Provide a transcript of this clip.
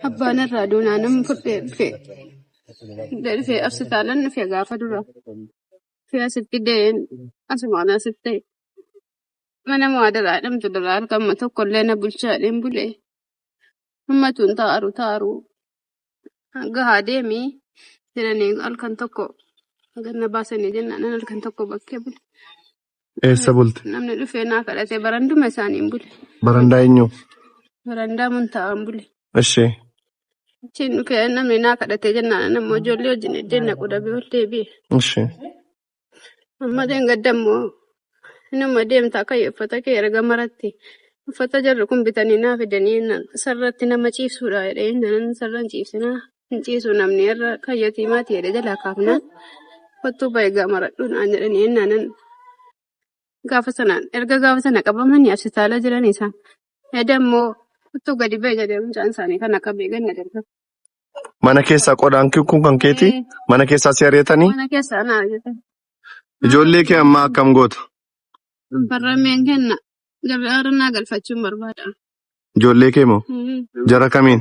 Abbaan irraa duunaa nama fudhee dhufe. Fudhee dhufee asi taalan dhufe gaafa dura. Fi asitti dee'een asumaan asitti ta'e. Mana muhaadaraa jedhamtu duraa argama tokko illee na bulchaa jedheen bule. Ummatuun taaru taaru gahaa deemi jedhanii halkan tokko ganna baasanii jennaan halkan tokko bakkee bule. Eessa bulte? Namni dhufee naa kadhate baranduma isaaniin bule. Barandaa eenyu? Barandaa muntaa'aan bule. Eshi. Achiin dhufee namni naa kadhate jennaan ammoo ijoollee wajjin iddeen naquu dhabee ol deebi'e. Eshi. Amma deengadda immoo inuma deemta akka uffata kee erga maratti. Uffata jarri kun bitanii naa fidanii jennaan sarratti nama ciibsuudha jedhee jennaan sarran ciibsinaa. hin ciisu namni irra kan yatiimaati jedhe jalaa kaafnaan kottuu bahe gaamaradhu naan jedhani ennaanan gaafa sanaan erga gaafa sana qabamanii absitaala jiran isaan yaada immoo kottuu gadi bahe jedhe mucaan isaanii kan akka beekan na darba. Mana keessaa qodaan kun kan keeti Ee, mana keessaa si ari'atanii Mana keessaa naa jedhan. ijoollee kee ammaa akkam goota? Barrameen kenna gabaa irra naa galfachuun barbaada. Ijoollee kee moo? Ee. Jara kamiin?